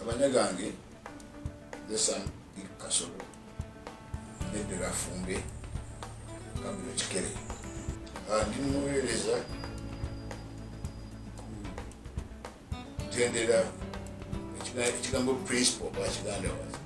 abanya gange lesa kasolo nedera afumbe kambino kikere andi ah, muwereza kutendera ekigambo principal bakiganda wazi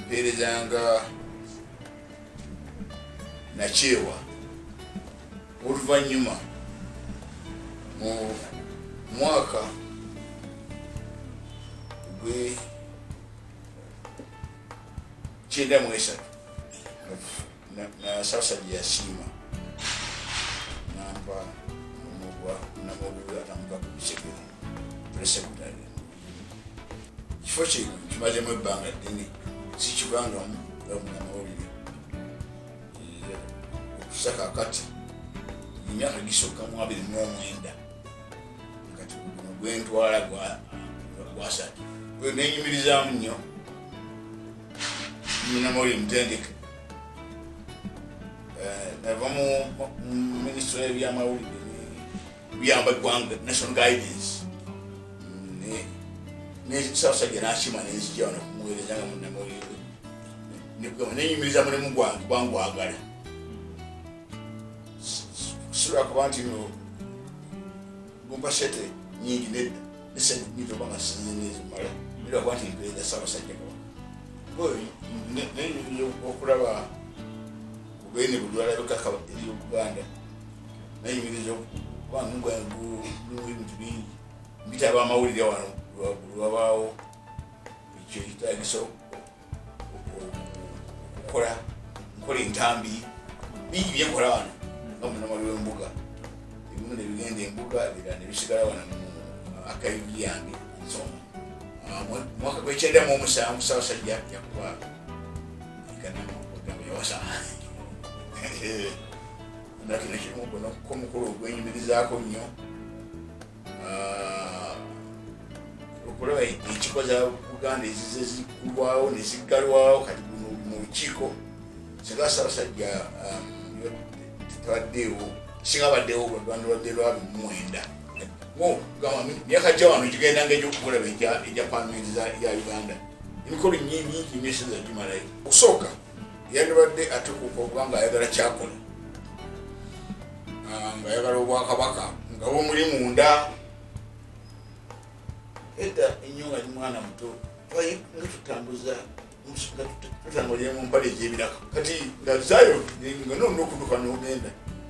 mpeereza nga nakyewa oluvannyuma mu mwaka gwe kyenda mu esatu nasasajja yasiima nampa omugwa namugula namuka ku bisegere presecondary kifo kino kimazemu ebbanga ddene sikibangamu nga munamawulire okusa kakati emyaka gisooka mu abiri n'omwenda kati guno gwentwala gwasatu gwe nenyumirizamu nnyo munamawulire mutendeke eh, nava mu minisitule y'ebyamawulire luyamba eggwanga national guidance nesasajja nakima nenzija wano kumuwereza nga munamawulire nekugamba nenyumiriza mulimu gwange gwangwagala sula kuba nti no gumba sete nyingi nedda nesente nyingi oba nga sinze nezimala era kuba nti mpereza sabasajja kaba nenyumiriza okulaba kubene bulwala bikakaba eri obuganda nayimiriza kubangabintu bingi mbitaba amawulire wano lwabaawo ekyo kitagisa okukola nkola entambi bingi byenkola wano nga munamali wembuga ebimu nebigenda embuga bira nebisigala wano akayibi yange nsoma ah, mwaka gwekyenda mu omusanvu sabasajja yakuba ikanamagamba yawasa nga kino kimu guno ko mukulu ogwenyumirizaako nnyo ah, okulaba ekiko za buganda ezize zikulwawo neziggalwawo kati guno mu lukiiko singa sabasajja ah, tebaddeewo singa baddewo lwaganda lwadde lwabi mumwenda myaka gya wano gigenda nga egyokukulaba egya pamenti ya uganda emikolo nyingi nyingi nyo sinza gimalayo okusooka yandibadde atekuuka okuba nga ayagala kyakola ah, nga ayagala obwakabaka nga bumuli munda edda ennyo nga ni mwana muto twaye nga tutambuza tutambulire mu mpale egyebiraka kati nga zayo nga nonda okuduka nogenda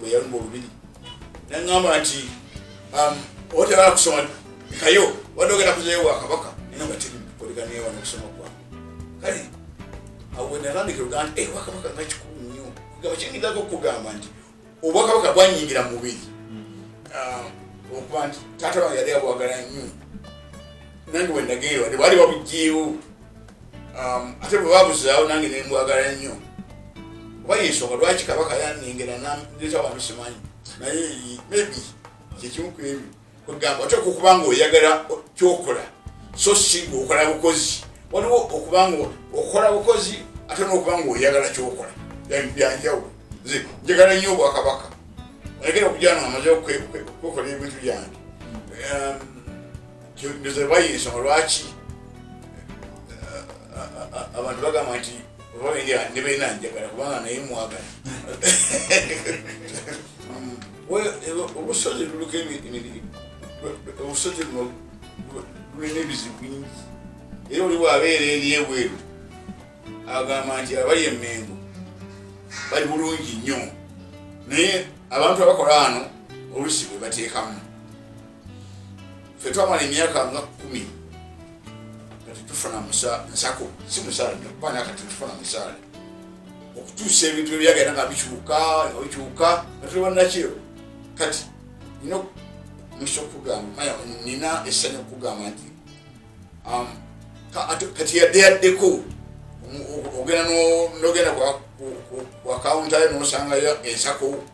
bweyalumba olubiri naŋamba nti um, oteraa kusoma kayo wadde ogenda kuzayo wa kabaka nina nga tiri kuliganiwa nokusoma kwa kale awenalambika oluganda eh, wakabaka nga kikulu nnyo kugamba kingidako okugamba nti obwakabaka bwanyingira mu mubiri hmm. um, okuba nti taata wange yali abwagala nnyo nange wendageerwa tebali babujeewo Um, ate bwe babuzaawo nange ne mbwagala nnyo oba yensonga lwaki kabaka yanengera naleeta wantu simanyi naye maybe kyekimu ku ebyo kwegamba oteeka okuba nga oyagala kyokola so si ngaokola bukozi waliwo okuba nga okola bukozi ate nokuba nga oyagala kyokola byanjawulo nze njagala nnyo obwakabaka ayagera okujana amaze okwekola ebintu byange um, tebayiina ensonga lwaki abantu bagamba nti oba bendera ne beena njagala kubanga naye mwagala obusozi luliko emirimu obusozi buno bulina ebizibu bingi era oli bwabeera eri ebweru agamba nti abali emengo bali bulungi nnyo naye abantu abakola ano olusi bwe bateekamu fe twamala emyaka nga kumi kati tufuna nsako si musaala nakuba nakati tufuna musaala okutuusa ebintu ebyagenda nga bikyuka bikyuka natulibanakiyo kati nina musa okugamba nina essanyu okugamba nti um, kati yadde yaddeko ogenda nogenda wakawuntayo nosangayo ensako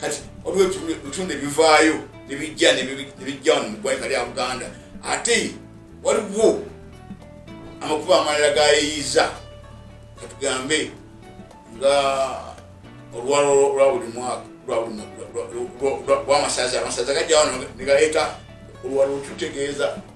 kati waliwo ebitundu ebivaayo nebijja nebijja wano mugwanika lya buganda ate waliwo amakuba amalala gayeyiza katugambe nga olwalo lwa buli mwaka lwamasaza amasaza gajja wano negaleeta olwalo lututegeeza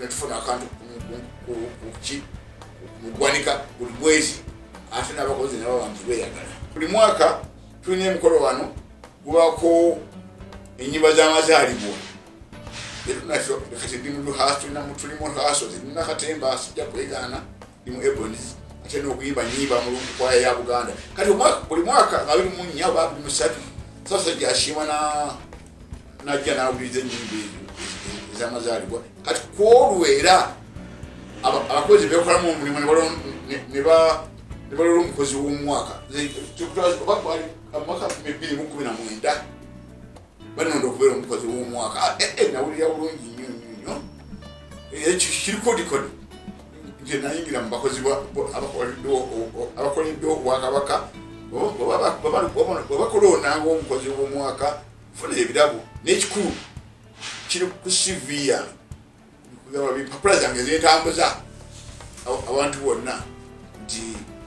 netufuna akantu kuki mugwanika buli mwezi ate nabakozi nabo bantu beyagala buli mwaka tulina emikolo wano gubako enyimba zamazalibwa etunakyo kati ndi muluhaso tulina mutuli muhaso zinina katemba sijja kwegana ndi mu eboniz ate nokuyimba nyimba mulungu kwaya ya buganda kati buli mwaka nga biri munya oba biri musatu sasa gyasiima najja nawuliriza enyimba ezo ezamazaalibwa kati kwolwo era abakozi bekolamu omulimu nebalora omukozi womwaka omwaka kumi na mwenda banonda okubeera omukozi w'omwaka ah, eh, eh, nawulira bulungi nnyo nnyo nnyo eh, kirikodikodi nze nayingira mu bakozi abakoleddwa obwakabaka bwebakola onanga omukozi w'omwaka funa ebirabo n'ekikulu kiri ku siviya kugaba bimpapula zange zentambuza abantu bonna nti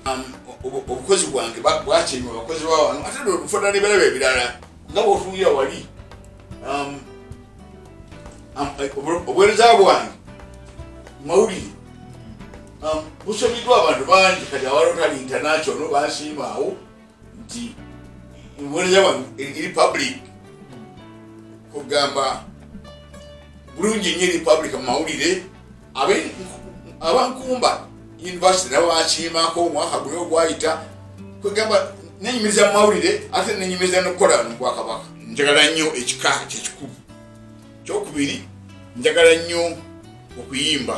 um, obukozi bwange bwakima abakozi bawano ate nfuna nebirabo ebirala nga bwotungira wali um, um, eh, obuwereza bwange mawulire busomiddwa abantu bangi kati awalotali international bansiimaawo nti mubonereza wano eri public kugamba bulungi nyo eri public mu mawulire abankumba university nabo bakiimako omwaka guli ogwayita kwegamba nenyumiriza mu mawulire ate nenyumiriza nokukola no bwakabaka njagala nnyo ekika kyekikulu kyokubiri njagala nnyo okuyimba